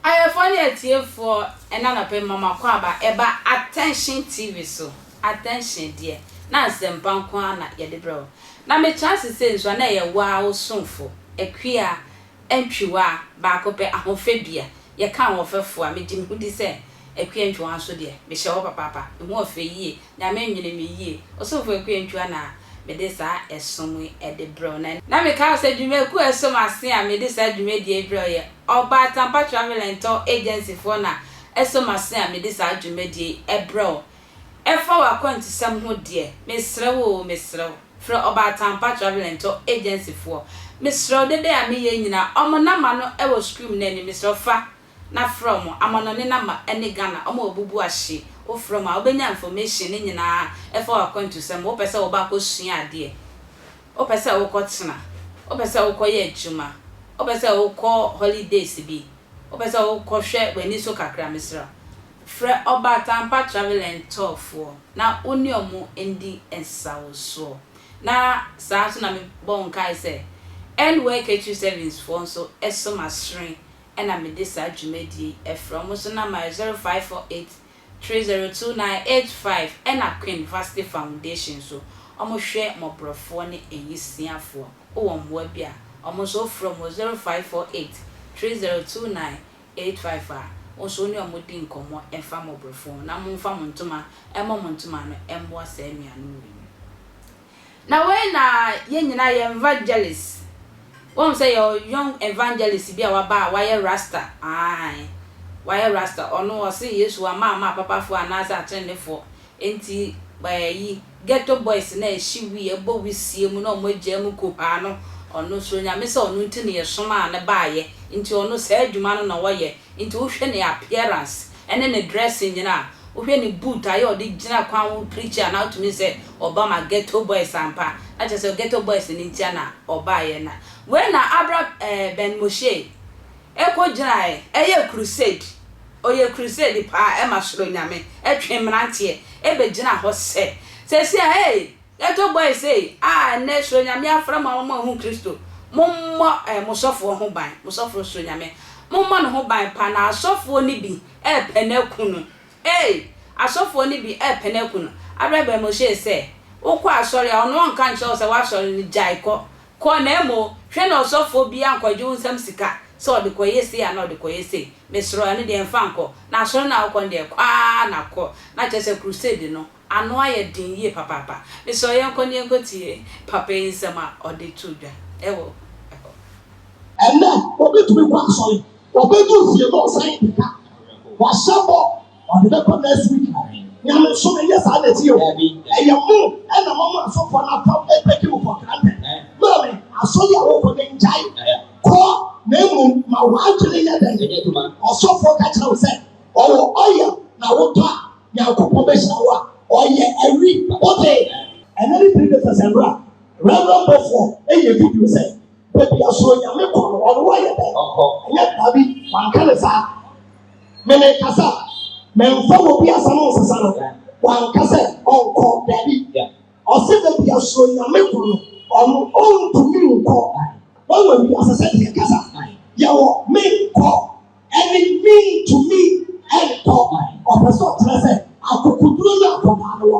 Ayɛfoɔ ne atiefoɔ ɛna anɔpa yi mama kɔ aba ɛba Attention TV so Attention deɛ na nsɛmpa nko ara na yɛde brɛ wo na me kyerɛ ase sɛ nso a na ɛyɛ wo ara wo somfo Akua Antwiwa baako pɛ, ahofadua. Yɛka ahoɔfɛfoɔ a, megye me ho di sɛ Akua Antwiwa nso deɛ, mehyɛ hɔ papaapa. Ne ho ɔfɛ yie. Nyame nwene me yie. Ɔsomfoɔ Akua Antwiwa na mede saa ɛsom yi de brɛ wo. Na, na meka wo sɛ dwumakuo a ɛso m'ase a mede saa dwumadie yi brɛ wo yɛ Ɔba Atampa Travel and Tour Agency foɔ na ɛso m'ase a mede saa dwumadie yi brɛ wo. Ɛfa w'akwantusɛm ho deɛ, mesrɛ wo oo, mesrɛ wo, frɛ Ɔbaatampa Travel and Tour Agency foɔ. Mesrɛ wo, dede a meyɛ nyinaa, wɔn number no wɔ screem no anim, mesrɛ wo fa na frɛ wɔn, amanɔne number ne Ghana, wɔn a wɔbubu ahye, wo frɛ wɔn a, wobɛnya information no nyinaa ɛfa w'akwantusɛm ho, wopɛ sɛ woba akɔsua adeɛ, wopɛ sɛ wokɔtena, wopɛ sɛ wokɔyɛ adwuma, wopɛ sɛ wokɔ holidays bi, wopɛ sɛ wokɔhwɛ w'ani so kakra, mesrɛ wo. Frɛ ɔbaataampa Travelend Tour foɔ na wo ne ɔmo ndi nsawosoɔ. Na saa nso na me bɔ wo nkae sɛ End Work Akyiri Savings foɔ nso so masere ɛna me de saa dwumadie yi ɛfrɛ ɔmo nso namba yɛ 0548302985 ɛna Queen Vasti Foundation nso ɔmo hwɛ mɔborɔfoɔ ne anyisiafoɔ wowɔ mmoa bi a ɔmo nso wo frɛ ɔmo wɔ 0548302985. Eight five a, Wo nso wo ne wɔn di nkɔmmɔ mfa mmɔboro fon na momfa mo ntoma mmɔ mo ntoma ano mmoa saa anuanom wei no. Na wei na yɛn nyinaa yɛ evangelist. Woahu sɛ yɛwɔ young evangelist bi a waba a wayɛ rasta, ae, wayɛ rasta, ɔno ɔse Yesu wama ama apapafoɔ anaasɛ atenenefoɔ Enti bayi ghetto boys no a ɛhye wii a ɛbɔ wisie mu na ɔmo agyaa mu kuhaa no, ɔno suro Nyame sɛ ɔno nti na yɛsomaa no baayɛ nti ɔno saa adwuma no na ɔyɛ nti wohwɛ ne appearance ɛne ne dressing nyina a, wohwɛ ne boot a yɛ a ɔde gyina kwan ho preach a na wotumi sɛ ɔba ma ghetto boys ampa na kyerɛ sɛ ghetto boys no ntia na ɔbaayɛ na wei na abra ɛɛ Ben Moshei ɛkɔ gyinaɛ ɛyɛ crusade. Ɔyɛ crusade paa ɛma soro nyame ɛtwe mmeranteɛ ɛbɛgyina hɔ sɛ sɛsi a hey yɛtɔ boy sei a ɛnnɛ soro nyame afrɛ mo ama mo ahu kristo mommɔ eh mo sɔfoɔ ho ban mo sɔfoɔ soro nyame mommɔ no ho ban paa na asɔfoɔ no bi ɛɛpɛ no aku no hey asɔfoɔ no bi ɛɛpɛ no aku no aberɛ bɛn mo see sɛ wokɔ asɔre a ɔno ɔnka nkyerɛ wo sɛ woasɔre no gyae kɔ kɔ na mmom hwɛ na ɔsɔfoɔ biara nkɔgye wo nsam sika sɛ ɔde kɔyɛ sei anaa ɔde kɔyɛ sei Mesrɛ wo, ɛno deɛ mfa nkɔ. Na asɔre no a wokɔ no deɛ, kɔ ara na kɔ. Na kyerɛ sɛ crusade no, ano ayɛ den yie papaapa. Mesrɛ wo, yɛnkɔ na yɛnkɔtie papa yi nsɛm a ɔde too dwa wɔ hɔ. Ɛnnɛ, obi tumi kɔ asɔre, ɔbɛduru fie na ɔsan adi ka. Wahyɛ bɔ. ɔde bɛkɔ next week no nyame nso na ɛyɛ saa nɛti o ɛyɛ mo ɛna mo mo asɔfoɔ no apam ɛbɛki mo for granted maame asɔre a wokɔ ne ngyae kɔ na mmom ma woadwene yɛ dɛn ɔsɔfoɔ ka kyerɛ wo sɛ ɔwɔ ɔyɛ na wotɔ a nyankopɔn bɛhyira wo a ɔyɛ awi wote ɛnɛ ne three days asɛm bra rɛmrɛ mbɔfoɔ ɛyɛ video sɛ baabi asoro nyame kɔ no ɔno wayɛ dɛn ɛnyɛ baabi wanka ne saa mene kasa mɛmfa wɔ bi asɛm nsesa no wanka sɛ ɔnkɔ dabi ɔsɛ baabi asuo nyame kɔ no ɔno ɔntumi nkɔ wɔwɔ bi asɛ sɛ deɛ kasa yɛwɔ menkɔ ɛne mentumi ɛnkɔ ɔpɛ sɛ ɔkyerɛ sɛ akokoduro ne akɔdaa no wɔ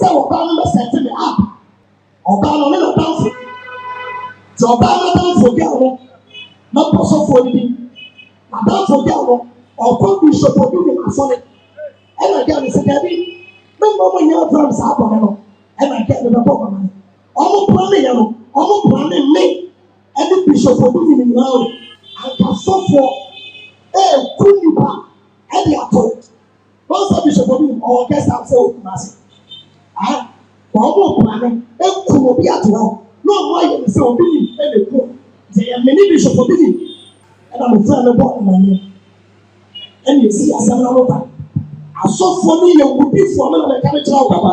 sɛ ɔbaa no bɛsɛte ne app ɔbaa no ne n'adanfo nti ɔbaa no adanfo gɛl no na mpɔ sɔfoɔ no bi adanfo gɛl no ɔkɔ bishop obi ne asɔre ɛna gɛl no sɛ daabi me mma mo nyɛ abram saa bɔne no ɛna gɛl no bɛbɔ ɔbaa no ɔmo pra ne yɛ no ɔmo pra ne mme ɛne bishop obi ne ne nyinaa o anka sɔfoɔ ɛɛku nipa ɛde ato Wɔn sɛ bishop obi nim ɔwɔ guest house ɛwɔ Kumasi. Ah, wɔn mo plane ekum obi ato hɔ na wɔn ayɛ ne sɛ obi nim ɛna ekum. Sɛ yɛ mene bishop obi nim ɛna mo fɛn no bɔ ɛmanyɛ. Ɛna esi asɛm na mo ba. Asɔfoɔ no yɛ wudifoɔ mo na mɛka no kyerɛ wo papa.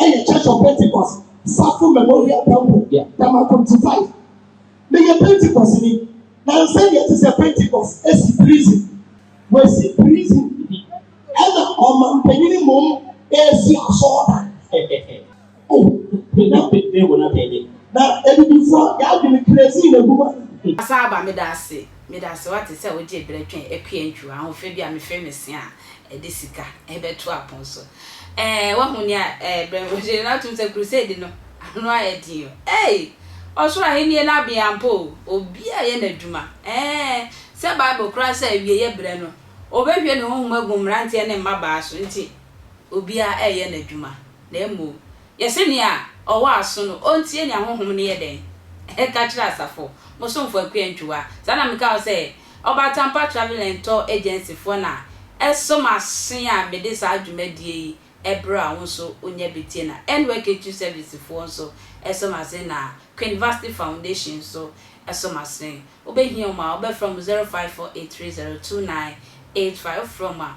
ɛyɛ Church of Pentecost, Safo Memorial Temple, Damakunti five. Meyɛ Pentecost ni, na nsɛm deɛ ɛte sɛ Pentecost esi prison, wɔasi prison, ɛna ɔmanpanyin mmom esi asɔɔdan. Oh, na bebe wo na bebe. Na ebibifo a yɛadwene crazy na egu ma. Asan aba, meda ase, meda ase, wate, sɛ wode berɛ twɛn akua ntwiwa, ahoɔfɛ bi a mefrɛ no Sean, ɛde sika bɛto apon so. Ɛɛ, wahu nea ɛrebrɛ no. Wɔhyɛ no atom sɛ Crusade no, ano ayɛ den o. Ei! Ɔsoro Ahenni no abɛn ampa o. Obiara reyɛ n'adwuma. Ɛɛ, sɛ Bible kora sɛ awiei brɛ no, obehwie ne honhom agu mmerante ne mmabaa so nti, obiara reyɛ n'adwuma. Na mmom, yɛse nea ɔwɔ aso no, ontie nea honhom no yɛ dɛn ka kyerɛ asafo. Mo somfo Akua Antwiwa, saa na meka wo sɛ Ɔba Tampa Travel and Tour Agency foɔ na ɛso m'aso a mede saa dwumadie yi ɛbrɛ a wo nso wonya bi tie na NYKQ Service foɔ nso ɛso m'asen na Queen Vasti Foundation nso ɛso m'asen. Wobɛhia wɔn a wobɛfrɛ wɔn zero five four eight three zero two nine eight five wofrɛ wɔn a